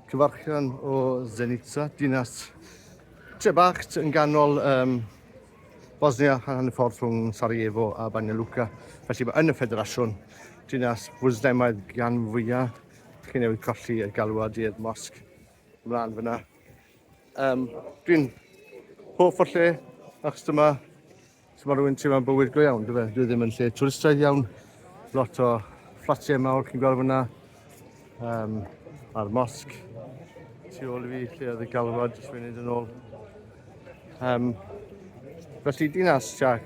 Cyfarchion o Zenica, dinas tre bach yn ganol um, Bosnia yn y ffordd rhwng Sarajevo a Banja Luka. Felly mae yn y ffederasiwn dinas fwslemaidd gan fwyaf. Chi'n newid colli y galwad i'r mosg ymlaen fyna. Um, Dwi'n hoff o lle achos dyma So mae rhywun teimlo'n bywyd go iawn, dyfe? Dwi ddim yn lle twristaidd iawn. Lot o fflatiau mawr chi'n gweld fyna. Um, a'r mosg tu ôl i fi, lle oedd y galwad, jyst fi'n neud yn ôl. Um, felly dinas tua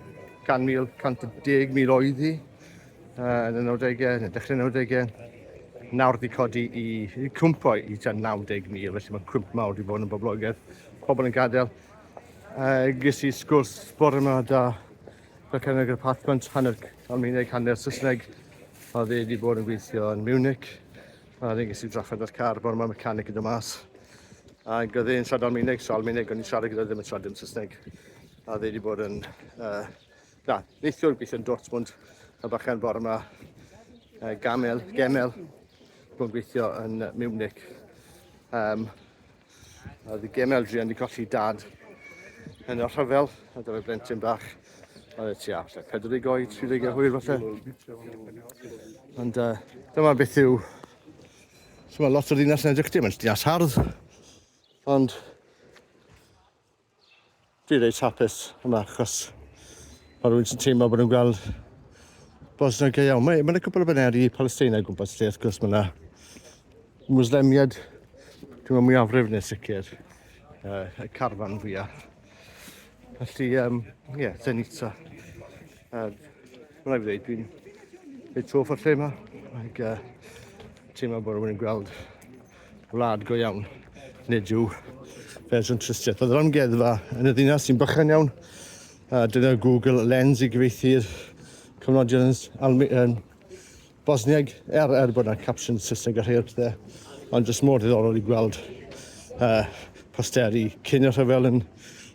100,000, 110,000 oedd hi uh, yn y 90au, yn y dechrau 90au. Nawr wedi codi i, i cwmpo i tua 90,000, felly mae cwmp mawr wedi bod yn boblogaidd. Pobl yn gadael, Uh, ges i sgwrs bore yma da Becan ag y Pathmant hanner Almaeneg, hanner Saesneg. A dde wedi bod yn gweithio yn Munich. A dde ges i drafod ar car bore yma mecanic yn dy mas. Ac oedd e'n siarad Almaeneg, so Almaeneg o'n i'n siarad gyda ddim yn siarad yn Saesneg. A dde wedi bod yn... Uh, na, neithiwr gweithio yn Dortmund a bachan bore yma uh, Gamel, Gemel, bod yn gweithio yn Munich. Um, A oedd Gemma Eldrian wedi colli dad yn y rhyfel, a dyma blentyn bach. Oedd e tua, lle, 40 oed, 30 o hwyr falle. Ond uh, dyma beth yw... So mae lot o'r ddinas yn edrych dim, mae'n dinas hardd. Ond Dwi reit hapus yma achos mae rhywun sy'n teimlo bod nhw'n gweld Bosnia go iawn. Mae, mae yna cwpl o baneri Palesteina o gwmpas lle, wrth gwrs mae yna Mwslemiad, dwi'n meddwl mwyafrif neu'n sicr, uh, y carfan fwyaf. Felly, ie, um, yeah, Zenica. Uh, Mae'n rhaid fi ddweud, dwi'n reit hoff o'r lle yma. Ac, uh, teimlo bod rhywun yn gweld Wlad go iawn. Nid yw fersiwn trystiaeth. Bydd yr amgueddfa yn y ddinas sy'n bychan iawn. Uh, dyna Google Lens i gyfeithi cyfnodion yn Almi, um, Bosniag, er, er bod yna capsiwn Saesneg a rhai o'r pethau, ond jyst mor ddiddorol i gweld uh, posteri cyn y rhyfel yn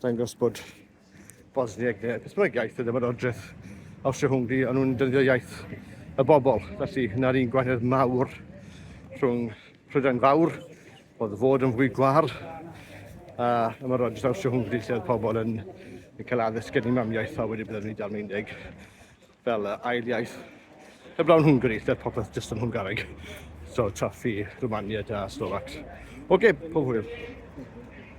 dangos bod Bosnieg neu beth bynnag iaith y dymadodreth Awstria-Hwngri, ond nhw'n dyddio iaith y bobl. Felly, yna'r un gwahaniaeth mawr rhwng Prydain Fawr, oedd fod yn fwy gwar, a ymadodreth Awstria-Hwngri lle oedd pobl yn, yn cael addysg gen i mamiaeth a wedi bydden nhw'n dal Almaeneg fel uh, ail iaith. Y blawn Hwngari, lle popeth jyst yn Hwngaraeg. So, Traffi, Romania, da, Slovacs. Oce, okay, pob hwyl.